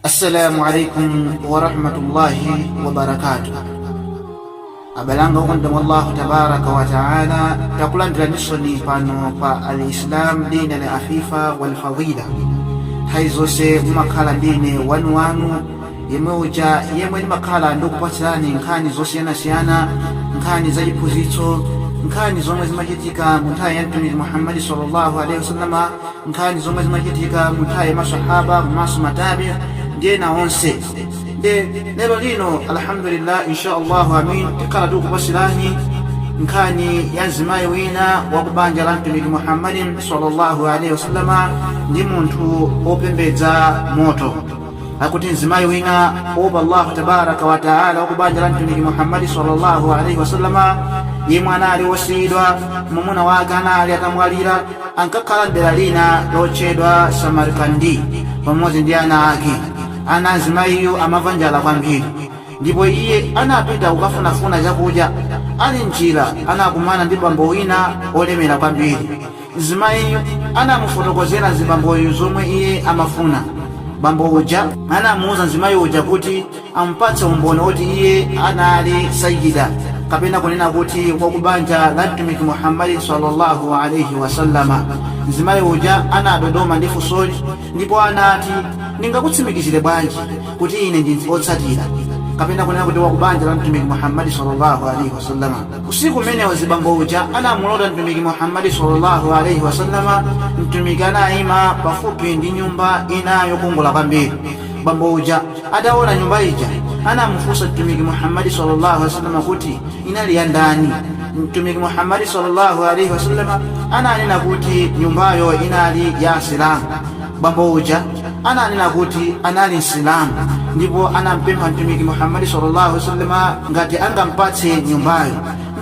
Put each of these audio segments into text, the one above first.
assalamu alaikum warahmatullahi wabarakatuh abale anga okondeka mwa allahu tabaraka wataala takulandiraninsoni pano pa al islam dina la afifa walfadila nthawi zonse mumakhala ndi ine wanuwanu yemwe uja yemwe ndimakhala ndikupatsirani nkhani zosiyanasiyana nkhani za chiphunzitso nkhani zomwe zimachitika mu nthawi ya mtumiki muhammadi sallallahu alaihi wasallama nkhani zomwe zinachitika mu nthawi ya masahaba komanso matabiina ndi ena onse nde lero lino alhamdulillah insha allahu amin tikhala tikukupatsirani nkhani ya mzimayi wina wa ku banja la mtumiki muhammadi sallallahu alaihi wasallama ndi munthu opembedza moto akuti mzimayi wina opa allahu tabaraka wataala wa ku banja la mtumiki muhammadi sallallahu alaihi wasallama yemwe anali osiyidwa mwamuna wake anali atamwalira ankakhala mdera lina lotchedwa samarkandi pamodzi ndi ana ake ana a mzimayiyu amamva njala kwambiri ndipo iye anapita kukafunafuna chakudya ali mnjira anakumana ndi bambo wina olemera kwambiri Mzimayiyu anamufotokozera mzibamboyo zomwe iye amafuna. Bambo uja anamuuza mzimayi uja kuti amupatse umboni oti iye anali Sayyida kapena kunena kuti wakubanja la Mtumiki Muhammad sallallahu alaihi wasallama. Mzimayi uja anadodoma ndi funsoli Ndipo anati, Ndingakutsimikizire bwanji kuti ine ndi wotsatira kapena kunena kuti wa ku banja la Mtumiki Muhammad sallallahu alaihi wasallam? Usiku umenewo mzibambo uja anamulota Mtumiki Muhammad sallallahu alaihi wasallam. Mtumiki anaima pafupi ndi nyumba ina yokongola kwambiri. Bambo uja ataona nyumba ija anamufunsa Mtumiki Muhammad sallallahu alaihi wasallam kuti inali ya ndani? Mtumiki Muhammad sallallahu alaihi wasallam ananena kuti nyumbayo inali ya Asilamu. Bambo uja ananena kuti anali Msilamu ndipo anampempha Mtumiki Muhammad sallallahu alaihi wasallam ngati angampatse nyumbayo.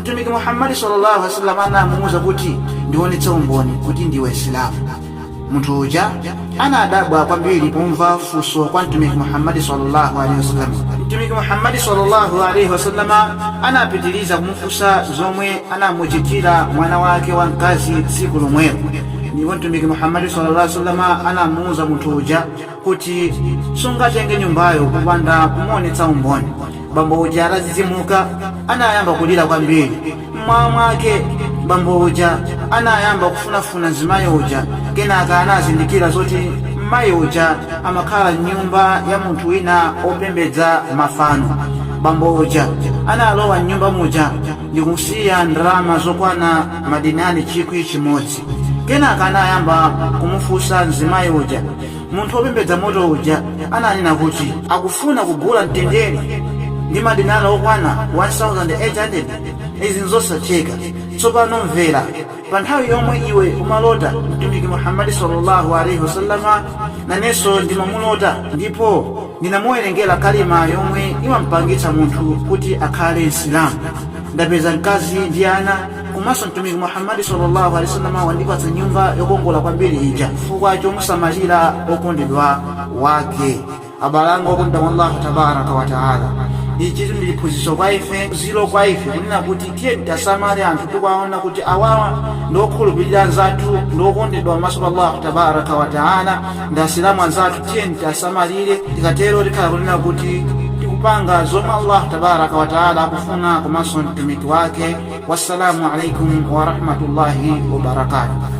Mtumiki Muhammad sallallahu alaihi wasallam anamuuza kuti ndionetse umboni kuti ndiwe Msilamu. Munthu uja anadabwa kwambiri pomva funso kwa Mtumiki Muhammad sallallahu alaihi wasallam. Mtumiki Muhammad sallallahu alaihi wasallama anapitiriza kumufunsa zomwe anamuchitira mwana wake wamkazi tsiku lomwelo, ndipo Mtumiki Muhammad sallallahu alaihi wasallama anamuuza munthu uja kuti sungatenge nyumbayo popanda kumuonetsa umboni bambo uja atadzidzimuka anayamba kulira kwambiri mmawa mwake bambo uja anayamba kufunafuna mzimayi uja kenaka anazindikira zoti mmayi uja amakhala mnyumba ya munthu wina opembedza mafano bambo uja analowa mnyumba muja ndikusiya ndalama zokwana madinari chikwi chimodzi kenaka anayamba kumufunsa mzimayi uja munthu wopembedza moto uja ananena kuti akufuna kugula mtendere ndi madinala okwana 1800 izi nzosatheka tsopano mvera, pa nthawi yomwe iwe umalota mtumiki muhammadi sallallahu alaihi wasallama nanenso ndimamulota ndipo ndinamuwerengera kalima yomwe imamupangitsa munthu kuti akhale msilamu ndapeza mkazi ndi ana komanso mtumiki muhammadi sallallahu alaihi wasallam wandipatsa nyumba yokongola kwambiri ija chifukwa chomusamalira okondedwa wake abale anga okondedwa mwa allahu tabaraka wa taala ichitu ndi chiphunzitso kwa ife phunziro kwa ife kunena kuti tiyeni tiwasamale anthu tikuwaona kuti awawa ndi okhulupirira anzathu ndi okondedwa pamaso pa allahu tabaraka wa taala ndi asilamu anzathu tiyeni tiwasamalire tikatero tikhala kunena kuti tikupanga zomwe allahu tabaraka wa taala akufuna komanso mtumiki wake wassalamu alaikum warahmatullahi wabarakatuh